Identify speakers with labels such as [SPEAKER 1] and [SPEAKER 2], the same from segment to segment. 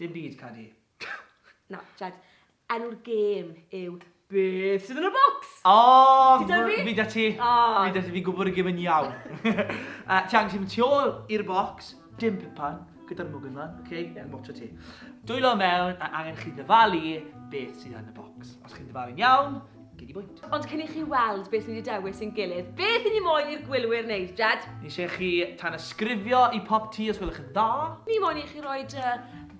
[SPEAKER 1] Dim byd, Cadi. Na, Jed. Enw'r gêm yw Beth sydd yn y bocs? O! Ti 'da fi? Fi 'da ti. O! Fi 'da ti, fi'n gwybod y gêm yn iawn. Yy, ti angen mynd tu ôl i'r bocs, dim pipan, gyda'r mwgyn lan, ok? Ie. Fi'n watcho ti. Dwylo mewn a angen chi ddyfalu beth sydd yn y bocs. Os chi'n dyfalu'n iawn, Gei di bwynt. Ond cyn i chi weld beth ni wedi dewis i'n gilydd, beth i ni moyn i'r gwylwyr wneud, Jed? Ni eisiau chi tanysgrifio i pop ti os gwelwch yn dda. Ni moyn i chi roi dy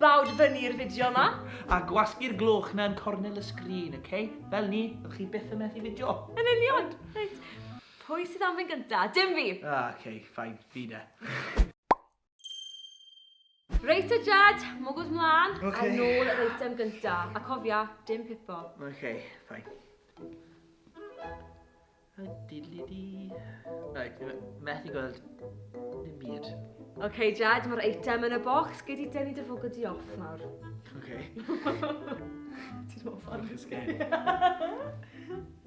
[SPEAKER 1] bawd fyny i'r fideo yma. A gwasgu'r gloch na yn cornel y sgrin, ok? Fel ni, fyddwch chi byth yn methu fideo. Yn union! Reit, pwy sydd am fynd gynta? Dim fi! Ah, ok, fine, fi de. Reit te Jed, mwgwd mlan, a Ok. nôl yr eitem gynta. A cofia, dim pipo. Ok, fine. A diddly di. Right, methu gweld dim byd. Ok Jed, mae'r eitem yn y bocs, gei di denu dy fwgwd di off nawr. Ok. Ti'n hoff o'n... Bach yn scary.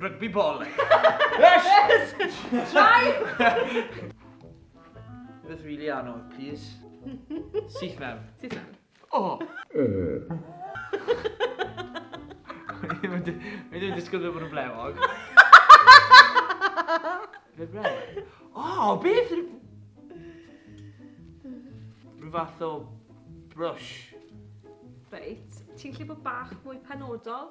[SPEAKER 1] Rygbi bol. Yes! Try! Rhywbeth really anodd, please. Syth mewn. Syth mewn. Oh! Mae'n dwi'n disgwyl bod yn blewog. Fe blewog? O, beth? Rhyw fath o brush. Reit, ti'n lle bod bach mwy penodol?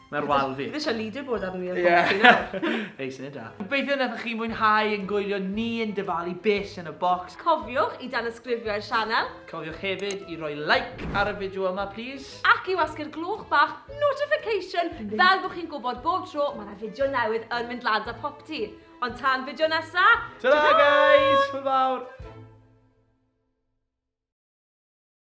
[SPEAKER 1] Mae'r wal fi. Fi eisiau leaderboard arno fi ar Ie. Boxing nawr. Hei, syniad da. Gobeithio wnaethoch chi mwynhau yn gwylio ni yn dyfalu bys yn y bocs. Cofiwch i danysgrifio i'r sianel. Cofiwch hefyd i roi like ar y fideo yma plîs. Ac i wasgu'r gloch bach notification fel bod chi'n gwybod bob tro mae 'na fideo newydd yn mynd lan 'da Popty. Ond tan fideo nesa', ta-ra! Ta-ra guys! Hwyl fawr!